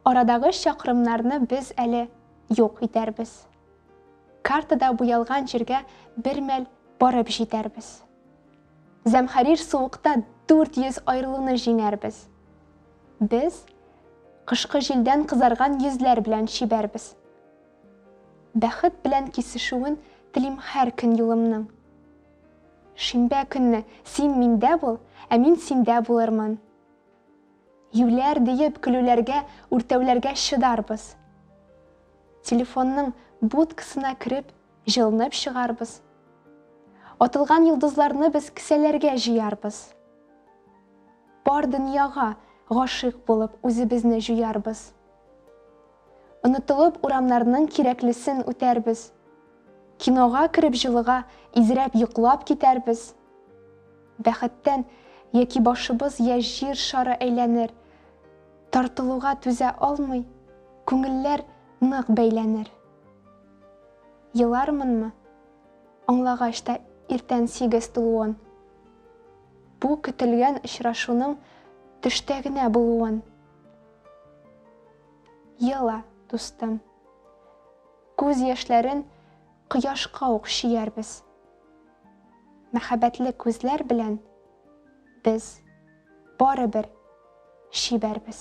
Арадагы чакрымнарны без әле юк итәрбез. Картада буялган җиргә бер мәл барып җитәрбез. Зәмхәрир суыкта 400 аерылуны җиңәрбез. Без кышкы җилдән кызарган йөзләр белән чибәрбез. Бәхет белән кисешүен телим һәр көн юлымның. Шимбә көнне син миндә бул, ә мин синдә булырмын. Юләр диеп көлүләргә, үртәүләргә чыдарбыз. Телефонның будкасына кереп, җылынып чыгарбыз. Атылган йолдызларны без кесәләргә җыярбыз. Бар дөньяга гашыйк булып үзебезне җуярбыз. Онытылып урамнарның кирәклесен үтәрбез. Кинога кереп җылыга изрәп йоклап китәрбез. Бәхеттән яки башыбыз йә җир шары әйләнер, тартылуга түзә алмый, күңелләр нык бәйләнер. Елармынмы, аңлагач та иртән сигез тулуын. Бу көтелгән очрашуның төштә генә булуын. Ела, дустым. Күз яшьләрен кояшка ук чөярбез. Мәхәббәтле күзләр белән без барыбер чибәрбез.